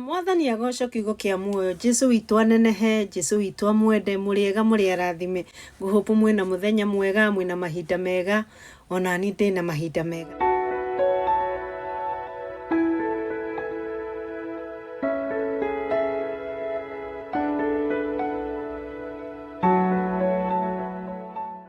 Mwathani agocwo kiugo kia muoyo Jesu witũ anenehe Jesu witũ amwende mũrĩega mũrĩ arathime Ngũ hope mwĩna mũthenya mwega mwĩna mahinda mega onani ndĩna mahinda mega.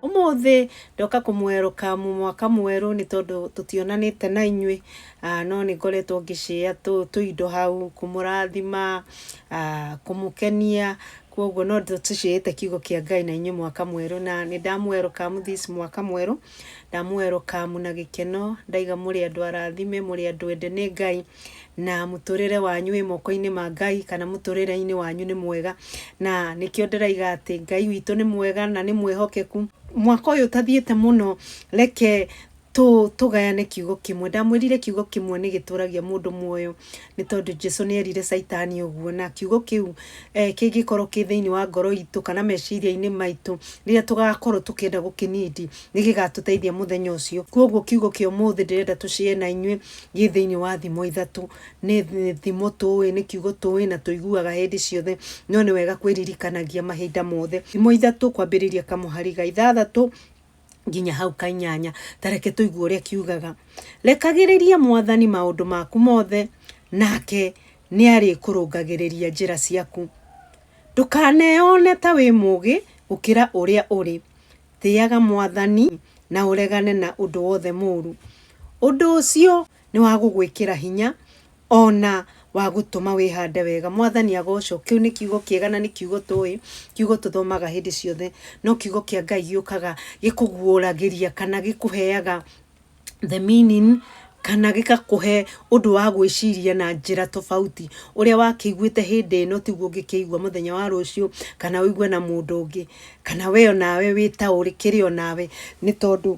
umuthi ndoka kumweruka mu mwaka mweru ni tondu tutionanite na inyui Aa, no nĩ ngoretwo ngĩcĩa tũ- tũindo hau kũmũrathima aa, kũmũkenia kwoguo no ndũ- tũcĩĩte kiugo kĩa ngai na inyuĩ mwaka mwerũ na nĩ ndamũwerũkamu this mwaka mwerũ ndamũwerũkamu na gĩkeno ndaiga mũrĩ andũ arathime mũrĩ andũ ende nĩ ngai na mũtũrĩre wanyu wĩ moko-inĩ ma ngai kana mũtũrĩre-inĩ wanyu nĩ mwega na nĩkĩo ndĩraiga atĩ ngai witũ nĩ mwega na nĩ mwĩhokeku mwaka ũyũ ũtathiĩte mũno reke tũ, tũgayane kiugo kĩmwe ndamwĩrire kiugo kĩmwe nĩ gĩtũragia mũndũ muoyo nĩ tondũ jesu nĩ erire caitani ũguo na kiugo kĩu eh, kĩngĩkorwo kĩ thĩinĩ wa ngoro itũ kana meciria-inĩ maitũ rĩrĩa tũgakorwo tũkĩenda gũkĩnindi nĩ gĩgatũteithia mũthenya ũcio koguo kiugo kĩa ũmũthĩ ndĩrenda tũcie na inyuĩ gĩ thĩinĩ wa thimo ithatũ nĩ nĩ thimo tũĩ nĩ kiugo tũĩ na tũiguaga hĩndĩ ciothe no nĩ wega kwĩririkanagia mahinda mothe thimo ithatũ kwambĩrĩria kamũhari ga ithathatũ nginya hau kainyanya tareke tũigue ũrĩa kiugaga rekagĩrĩria mwathani maũndũ maku mothe nake nĩ arĩkũrũngagĩrĩria njĩra ciaku ndũkaneyone ta wĩ mũgĩ gũkĩra ũrĩa ũrĩ tĩaga mwathani na ũregane na ũndũ wothe mũru ũndũ ũcio Nĩ wa gũgwĩkĩra hinya, o na wa gũtũma wĩhande wega. Mwathani agocwo. Kĩu nĩ kiugo kĩega na nĩ kiugo tũĩ, kiugo tũthomaga hĩndĩ ciothe. No kiugo kĩa Ngai gĩũkaga gĩkũguũragĩria kana gĩkũheaga the meaning kana gĩgakũhe ũndũ wa gwĩciria na njĩra tofauti. Ũrĩa wakĩiguĩte hĩndĩ ĩno tiguo ũngĩkĩigua mũthenya wa rũciũ kana ũigue na mũndũ ũngĩ kana we onawe wĩ ta ũrĩ kĩrĩ onawe nĩ tondũ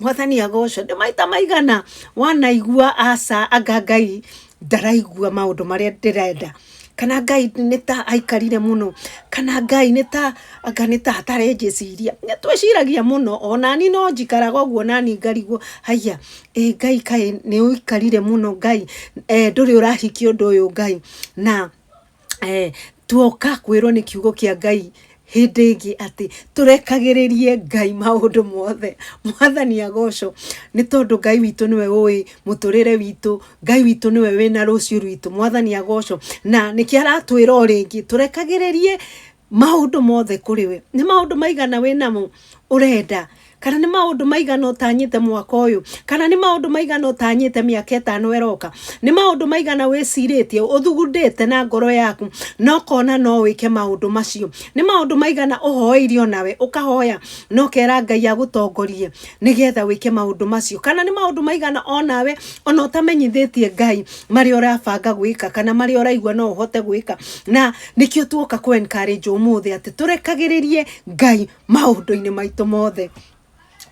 mwathani agocwo nĩ maita maigana wanaigua aca anga ngai ndaraigua maũndũ marĩa ndĩrenda kana ngai nĩ ta aikarire mũno kana ngai nĩ ta anga nĩ ta hatarĩ njĩciria nĩ twĩciragia mũno onani no njikaraga ũguo nani ngarigwo haiya ĩ ngai kaĩ nĩ ũikarire mũno ngai eh, ndũrĩ ũrahikia ũndũ ũyũ ngai na eh, tuoka kwirwo ni kiugo kia ngai hĩndĩ ĩngĩ atĩ tũrekagĩrĩrie ngai maũndũ mothe mwathani agocwo nĩ tondũ ngai witũ nĩwe ũĩ mũtũrĩre witũ ngai witũ nĩwe wĩna rũciũ rwitũ mwathani agocwo na nĩkĩo aratwĩra o rĩngĩ tũrekagĩrĩrie maũndũ mothe kũrĩ we nĩ maũndũ maigana wĩ namo ũrenda kana nĩ maũndũ maigana ũtanyĩte mwaka ũyũ kana nĩ maũndũ maigana ũtanyĩte mĩaka ĩtano ĩroka nĩ maũndũ maigana wĩcirĩtie ũthugundĩte na ngoro yaku na ũkona no wĩke maũndũ macio nĩ maũndũ maigana ũhoeire onawe ũkahoya na ũkera ngai agũtongorie nĩgetha wĩke maũndũ macio kana nĩ maũndũ maigana onawe ona ũtamenyithĩtie ngai marĩa ũrabanga gwĩka kana marĩa ũraigua no ũhote gwĩka na Nĩkĩo tuoka kũ encourage ũmũthĩ atĩ tũrekagĩrĩrie Ngai maũndũ-inĩ maitũ mothe.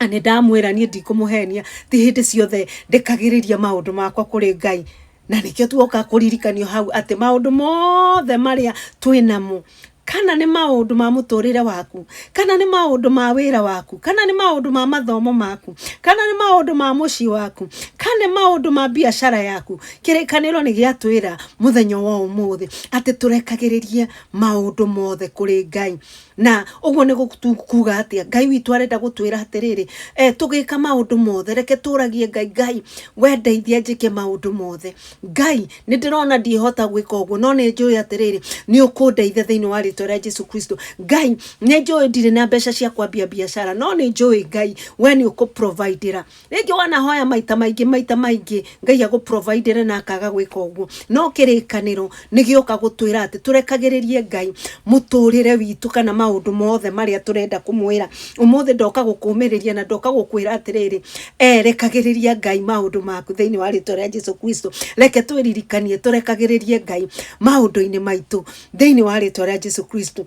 Na nĩ ndamwĩra niĩ ndikũmũhenia, ti hĩndĩ ciothe ndekagĩrĩria maũndũ makwa kũrĩ Ngai. Na nĩkĩo tuoka kũririkanio hau atĩ maũndũ mothe marĩa twĩ namo, kana nĩ maũndũ ma mũtũrĩre waku, kana nĩ maũndũ ma wĩra waku, kana nĩ maũndũ ma mathomo maku, kana nĩ maũndũ ma mũciĩ waku, kana nĩ maũndũ ma biacara yaku, kĩrĩkanĩro nĩ gĩatwĩra mũthenya wa ũmũthĩ atĩ tũrekagĩrĩrie maũndũ mothe kũrĩ ngai na ũguo nĩ kuga atĩa ngai witũ arenda gũtwĩra atĩrĩrĩ e, tũgĩka maũndũ mothe reke tũragie ngai ngai wendeithia njĩke maũndũ mothe ngai nĩ ndĩrona ndihota gwĩka ũguo no nĩ njũĩ atĩrĩrĩ nĩ ũkũndeithia thĩinĩ wa rĩtwa rĩa jesu kristo ngai nĩ njũĩ ndirĩ na mbeca cia kwambia biacara no nĩ njũĩ ngai we nĩ ũkũprovidĩra rĩngĩ wanahoya maita maingĩ maita maingĩ ngai agũprovidere na akaga gwĩka ũguo no kĩrĩkanĩro nĩ gĩoka gũtwĩra atĩ tũrekagĩrĩrie ngai mũtũrĩre witũ kana maũndũ mothe marĩa tũrenda kũmwĩra ũmũthĩ ndoka gũkũmĩrĩria na ndoka gũkwĩra atĩrĩrĩ eh, rekagĩrĩria ngai maũndũ maku thĩinĩ wa rĩtwa rĩa jesu kristo reke twĩririkanie tũrekagĩrĩrie ngai maũndũ-inĩ maitũ thĩinĩ wa rĩtwa rĩa jesu kristo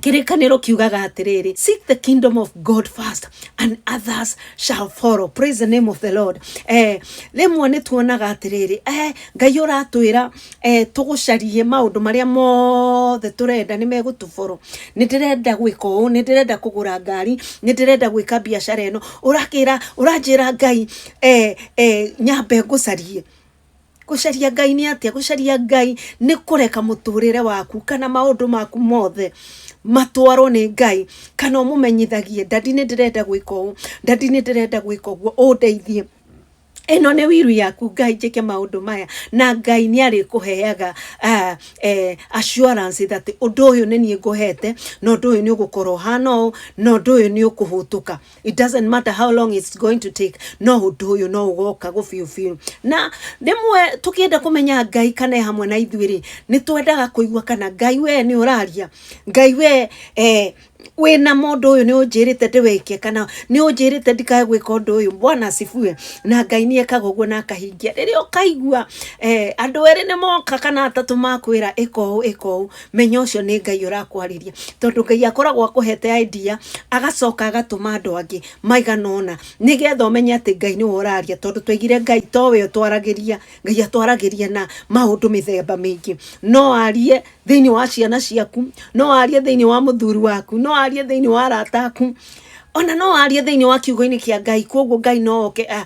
kĩrĩkanĩro kiugaga atĩrĩrĩ seek the kingdom of god first and others shall follow praise the name of the lord eh, rĩmwe nĩ tuonaga atĩrĩrĩ eh, ngai ũratwĩra eh, tũgũcarie maũndũ marĩa mothe tũrenda nĩ megũtũboro nĩ ndĩrenda gwĩka ũũ nĩ ndĩrenda kũgũra ngari nĩ ndĩrenda gwĩka biacara ĩno ũrakĩra ũranjĩra ngai eh, eh, nyambe ngũcarie gũcaria ngai nĩ atĩa gũcaria ngai nĩ kũreka mũtũrĩre waku kana maũndũ maku mothe matwarwo nĩ ngai kana ũmũmenyithagie ndadi nĩ ndĩrenda gwĩka ũũ ndadi nĩ ndĩrenda gwĩka ũguo ũndeithie ĩno nĩ wiru yaku ngai njĩke maũndũ maya na ngai nĩ arĩkũheaga uh, eh, assurance that ũndũ ũyũ nĩ niĩ ngũhete na ũndũ ũyũ nĩ ũgũkorwo ũhana ũũ na ũndũ ũyũ nĩ ũkũhũtũka it doesn't matter how long it's going to take no hundu uyu no ugoka gå biå biå na rĩmwe tũkĩenda kũmenya ngai kana e hamwe na ithuĩ rĩ nĩ twendaga kũigua kana ngai we nĩ ũraria ngai we eh, wĩna mũndũ ũyũ nĩ ũnjĩrĩte ndĩwĩke kana nĩ ũnjĩrĩte ndikae gwĩka ũndũ ũyũ bwana acibue na ngai nĩ ekaga ũguo na akahingia rĩrĩa ũkaigua eh, andũ erĩ nĩ moka kana atatũ makwĩra ĩka ũũ ĩka ũũ menya ũcio nĩ ngai ũrakwarĩria tondũ ngai akoragwo akũhete idea agacoka agatũma andũ angĩ maigana ũna nĩgetha ũmenye atĩ ngai nĩwe ũraria tondũ twaigire ngai towe ũtwaragĩria ngai atwaragĩria na maũndũ mĩthemba mĩingĩ no arie thĩinĩ wa ciana ciaku no arie thĩinĩ wa mũthuri waku no arie thĩinĩ wa arata aku ona no arie thĩinĩ wa kiugo-inĩ kĩa ngai koguo ngai no oke ah,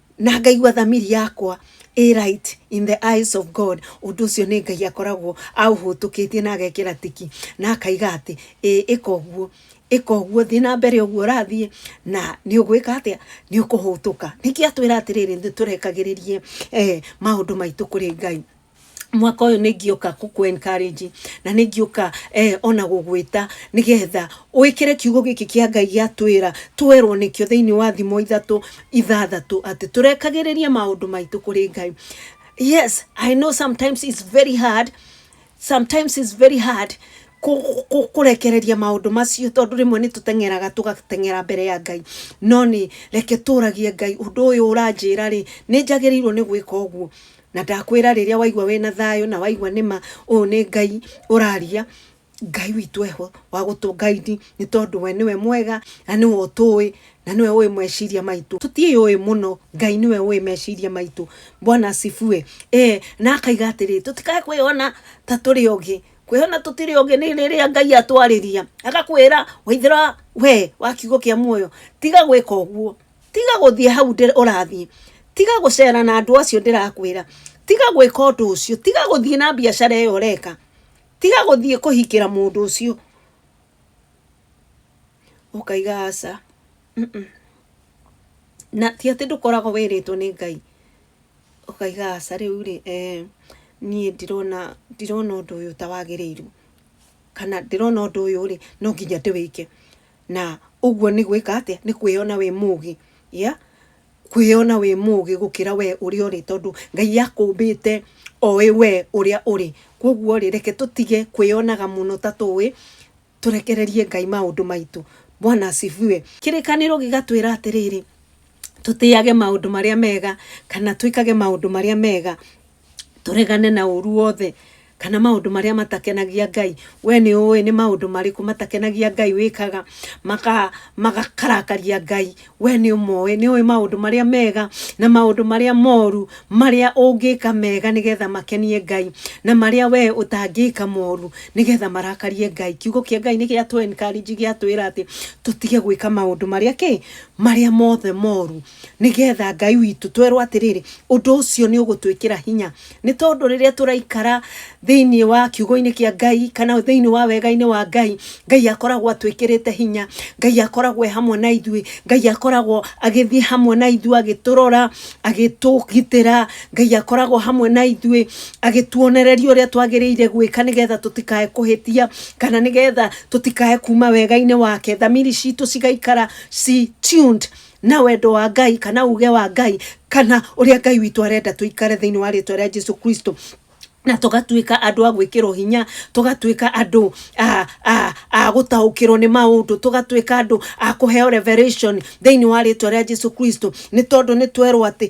na ngaigua thamiri yakwa ĩ right in the eyes of God ũndũ ũcio nĩ Ngai akoragwo aũhũtũkĩtie na agekĩra tiki na akaiga atĩ ĩ ĩka ũguo ĩka ũguo thiĩ na mbere ũguo ũrathiĩ na nĩ ũgwĩka atĩa nĩ ũkũhũtũka nĩkĩ atwĩra atĩrĩrĩ nĩ tũrekagĩrĩrie eh, maũndũ maitũ kũrĩ Ngai mwaka ũyũ nĩ ngĩũka kũkũ encourage na nĩ ngĩũka eh, ona gũgwĩta nĩ getha wĩkĩre kiugo gĩkĩ kĩa ngai gĩatwĩra twerwo nĩkĩo thĩinĩ wa thimo ithatũ ithathatũ atĩ tũrekagĩrĩria maũndũ maitũ kũrĩ ngai yes i know sometimes it's very hard sometimes it's very hard kũ- kũ- kũrekereria maũndũ macio tondũ rĩmwe nĩ tũteng'eraga tũgateng'era mbere ya ngai no nĩ reke tũragie ngai ũndũ ũyũ ũranjĩra rĩ nĩ njagĩrĩirwo nĩ gwĩka ũguo Na ndakwĩra rĩrĩa waigua wĩna thayũ na waigua nĩma ũyũ nĩ Ngai ũraria, Ngai witũ eho wa gũtũ guide nĩ tondũ we nĩwe mwega na nĩwe ũtũĩ na nĩwe ũĩ meciria maitũ. Tũtiũĩ mũno, Ngai nĩwe ũĩ meciria maitũ. Bwana asifiwe. Ee, na akaiga atĩrĩ, tũtikae kwĩyona ta tũrĩ ogĩ. Kwĩyona tũtirĩ ogĩ nĩ rĩrĩa Ngai atwarĩria agakwĩra waithĩra we wa kiugo kĩa muoyo tiga gwĩka ũguo. tiga gũthiĩ hau ndĩ- ũrathiĩ tiga gũcera na andũ acio ndĩrakwĩra tiga gwĩka ũndũ ũcio tiga gũthiĩ na biacara ĩyo ũreka tiga gũthiĩ kũhikĩra mũndũ ũcio ũkaiga aca Mm-mm. na ti atĩ ndũkoragwo wĩrĩtwo nĩ ngai ũkaiga aca rĩu rĩ eh, niĩ ndirona ndirona ũndũ ũyũ ta wagĩrĩirwo kana ndĩrona ũndũ ũyũ rĩ no nginya ndĩwĩke Na ũguo nĩ gwĩka atĩa? Nĩ kwĩyona wĩ mũũgĩ. Yeah? Kwĩyona wĩ mũũgĩ gũkĩra we ũrĩa ũrĩ, tondũ Ngai akũmbĩte oĩ we ũrĩa ũrĩ. Kwoguo rĩ, reke tũtige kwĩyonaga mũno ta tũũĩ, tũrekererie Ngai maũndũ maitũ. Bwana asifiwe. Kĩrĩkanĩro gĩgatwĩra atĩrĩrĩ, tũtĩage maũndũ marĩa mega, kana twĩkage maũndũ marĩa mega. tũregane na ũru wothe kana maũndũ marĩa matakenagia ngai we nĩ ũĩ nĩ maũndũ marĩkũ matakenagia ngai wĩkaga makakarakaria ngai we nĩ ũmoĩ nĩ ũĩ maũndũ marĩa mega na maũndũ marĩa moru marĩa ũngĩka mega nĩgetha makenie ngai na marĩa we ũtangĩka moru nĩgetha marakarie ngai kiugo kĩa ngai nĩ gĩa tũ encourage gĩatwĩra atĩ tũtige gwĩka maũndũ marĩa kĩ marĩa mothe moru nĩgetha ngai witũ twerwo atĩrĩrĩ ũndũ ũcio nĩ ũgũtwĩkĩra hinya nĩ tondũ rĩrĩa tũraikara thĩinĩ wa kiugo-inĩ kĩa ngai kana thĩinĩ wa wega-inĩ wa ngai ngai akoragwo atwĩkĩrĩte hinya ngai akoragwo e hamwe na ithuĩ ngai akoragwo agĩthiĩ hamwe na ithuĩ agĩtũrora agĩtũgitĩra ngai akoragwo hamwe na ithuĩ agĩtuonereria ũrĩa twagĩrĩire gwĩka nĩgetha tũtikae kũhĩtia kana nĩgetha tũtikae kuma wega-inĩ wake thamiri citũ cigaikara ci tuned na wendo wa ngai kana uge wa ngai kana å rä a ngai witå arenda tå ikare thä inä wa rä two rä a jesu kristo na tũgatuĩka andũ a gwĩkĩrwo hinya tũgatuĩka andũ a a a gũtaũkĩrwo nĩ maũndũ tũgatuĩka andũ a kũheo revelation thĩinĩ wa rĩtwa rĩa jesu kristo nĩ tondũ nĩ twerwo atĩ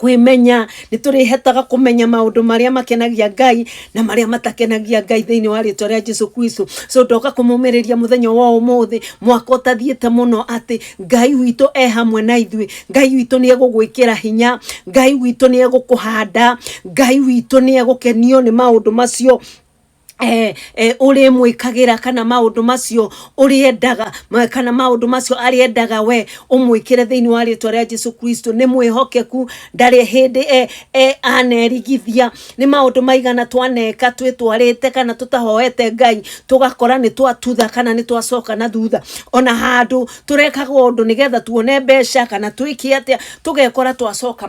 kwĩmenya nĩ tũrĩhetaga kũmenya maũndũ marĩa makenagia ngai na marĩa matakenagia ngai thĩinĩ wa rĩtwa rĩa jesu kristo so ndoka kũmũmĩrĩria mũthenya wa ũmũthĩ mwaka ũtathiĩte mũno atĩ ngai witũ e hamwe na ithuĩ ngai witũ nĩ egũgwĩkĩra hinya ngai witũ nĩ egũkũhanda ngai witũ nĩ egũkenio nĩ maũndũ macio eh, eh, ũrĩmwĩkagĩra kana maũndũ macio ũrĩendaga ma- kana maũndũ macio arĩendaga we ũmwĩkĩre thĩinĩ wa rĩtwa rĩa jesu kristo nĩ mwĩhokeku ndarĩ hĩndĩ eh, eh, anerigithia nĩ maũndũ maigana twaneka twĩtwarĩte kana tũtahoete ngai tũgakora nĩ twatutha kana nĩ twacoka na thutha ona handũ tũrekaga ũndũ nĩgetha tuone mbeca kana twĩke atĩa tũgekora twacoka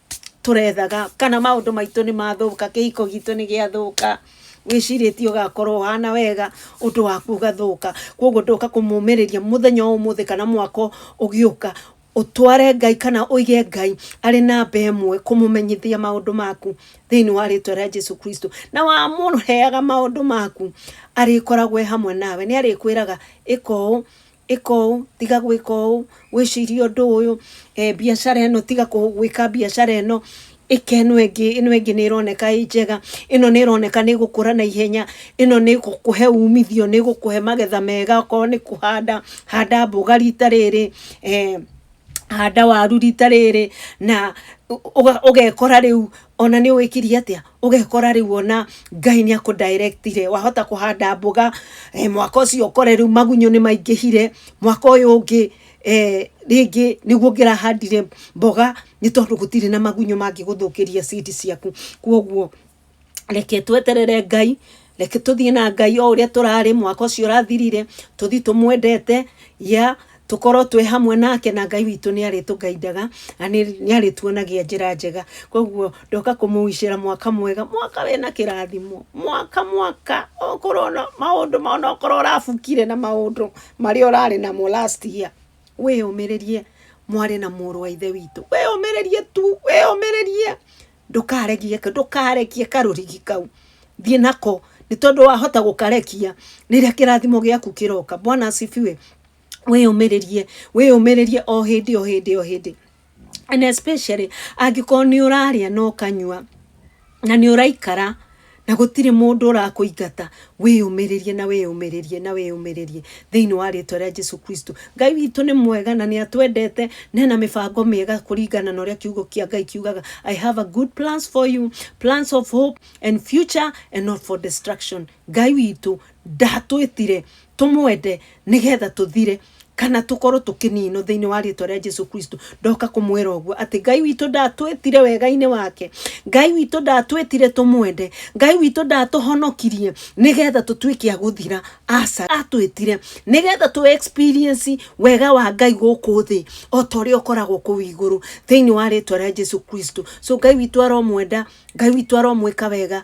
tũrethaga kana maũndũ maitũ nĩ mathũka kĩhiko gitũ nĩ gĩathũka wĩcirĩtie ũgakorwo ũhana wega ũndũ waku ũgathũka koguo ndoka kũmũmĩrĩria mũthenya wa ũmũthĩ kana mwaka ũgĩũka ũtware ngai kana ũige ngai arĩ namba ĩmwe kũmũmenyithia maũndũ maku thĩinĩ wa rĩtwa rĩa jesu kristo na wamũheaga maũndũ maku arĩkoragwo e hamwe nawe nĩ arĩkwĩraga ĩka ũũ ĩka ũũ tiga gwĩka ũũ wĩcirie ũndũ ũyũ eh, biacara ĩno tiga kũ- gwĩka biacara ĩno ĩka ĩno ĩngĩ ĩno ĩngĩ nĩ ĩroneka ĩ njega ĩno nĩ ĩroneka nĩ ĩgũkũra na ihenya ĩno nĩ ĩgũkũhe umithio nĩ ĩgũkũhe magetha mega okorwo nĩ kũhanda handa mboga rita rĩrĩ eh, handa waru rita rĩrĩ na ũ- ũga- ũgekora rĩu ona nĩ wĩkirie atĩa ũgekora rĩu ona ngai nä akå directire wahota kå handa mboga eh, mwaka å cio ũkore rĩu magunyũ nĩ maingĩhire mwaka ũyũ ũngĩ eh, rĩngĩ nĩguo ngĩrahandire mboga nĩ tondũ gũtirĩ na magunyũ mangĩgũthũkĩria seed ciaku kwoguo reke tweterere ngai reke tũthiĩ na ngai o ũrĩa tũrarĩ mwaka ũcio ũrathirire tũthiĩ tũmwendete ya tũkorwo twĩ hamwe nake na ngai witũ nĩ arĩtũgaindaga na nĩ nĩ arĩtuonagia njĩra njega koguo ndoka kũmũicĩra mwaka mwega mwaka wĩna kĩrathimo mwaka mwaka okorwo no maũndũ ma- ona okorwo ũrabukire na maũndũ marĩa ũrarĩ namo last year wĩyũmĩrĩrie mwarĩ na mũrũ wa ithe witũ wĩyũmĩrĩrie tu wĩyũmĩrĩrie ndũkaregie ndũkarekie karũrigi kau thiĩ nako nĩ tondũ wahota gũkarekia rĩrĩa kĩrathimo gĩaku kĩroka bwana asifiwe wĩyũmĩrĩrie wĩyũmĩrĩrie o hĩndĩ o hĩndĩ o hĩndĩ and especially angĩkorwo nĩ ũrarĩa na ũkanyua na nĩ ũraikara na gũtirĩ mũndũ ũrakũingata wĩyũmĩrĩrie na wĩyũmĩrĩrie na wĩyũmĩrĩrie thĩinĩ wa rĩtwa rĩa jesu kristo ngai witũ nĩ mwega na nĩ atwendete na ena mĩbango mĩega kũringana na ũrĩa kiugo kĩa ngai kiugaga i have a good plans for you plans of hope and future and not for destruction ngai witũ ndatwĩtire tũmwende nĩgetha tũthire kana tukorwo tukininwo thiini wa riitwa ria Jesu Kristo ndoka kumwira uguo ati Ngai witũ ndatwĩtire wega-inĩ wake Ngai witũ ndatwĩtire tumwende Ngai witũ ndatuhonokirie nigetha tutuike a guthira aca atwĩtire nigetha tu experience wega wa Ngai guku thi o ta ũrĩa ũkoragwo kũu igũrũ thiini wa riitwa ria Jesu Kristo so Ngai witũ aromwenda Ngai witũ aromwĩka wega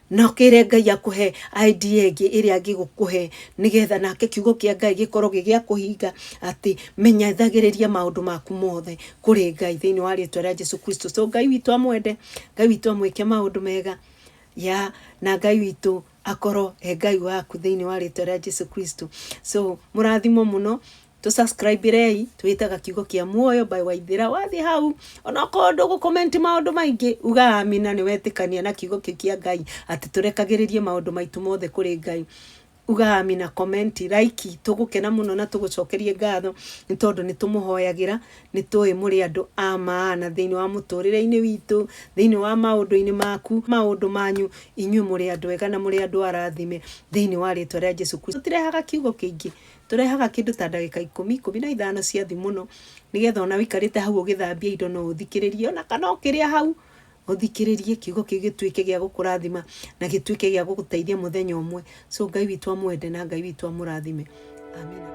na ũkĩre ngai akũhe idea ĩngĩ ĩrĩa angĩgũkũhe nĩgetha nake kiugo kĩa ngai gĩkorwo gĩ gĩa kũhinga atĩ menyethagĩrĩria maũndũ maku mothe kũrĩ ngai thĩinĩ wa rĩtwa rĩa jesu kristo so ngai witũ amwende ngai witũ amwĩke maũndũ mega ya na ngai witũ akorwo e ngai waku thĩinĩ wa rĩtwa rĩa jesu kristo so mũrathimo mũno tå subscribe rei twĩtaga kiugo kĩa muoyo by waithĩra wathiĩ hau onokorwo ndũgũ comment maũndũ maingĩ uga amina nĩ wetĩkania na kiugo kĩu kĩa ngai atĩ tũrekagĩrĩrie maũndũ maitũ mothe kũrĩ ngai uga amina comment like tũgũkena mũno na tũgũcokerie ngatho nĩ tondũ nĩ tũmũhoyagĩra nĩ tũĩ mũrĩ andũ a maana thĩinĩ wa mũtũrĩre-inĩ witũ thĩinĩ wa maũndũ-inĩ maku maũndũ manyu inyuĩ mũrĩ andũ ega na mũrĩ andũ arathime thĩinĩ wa rĩtwa rĩa jesu kristo tũtirehaga kiugo kĩingĩ Tũrehaga kĩndũ ta ndagĩka ikũmi, ikũmi na ithano cia thĩ mũno, nĩgetha ona wĩikarĩte hau ũgĩthambia indo no ũthikĩrĩrie ona kana ũkĩrĩa hau, ũthikĩrĩrie kiugo kĩu gĩtuĩke gĩa gũkũrathima na gĩtuĩke gĩa gũgũteithia mũthenya ũmwe. So Ngai witũ amwende na Ngai witũ amũrathime. Amina.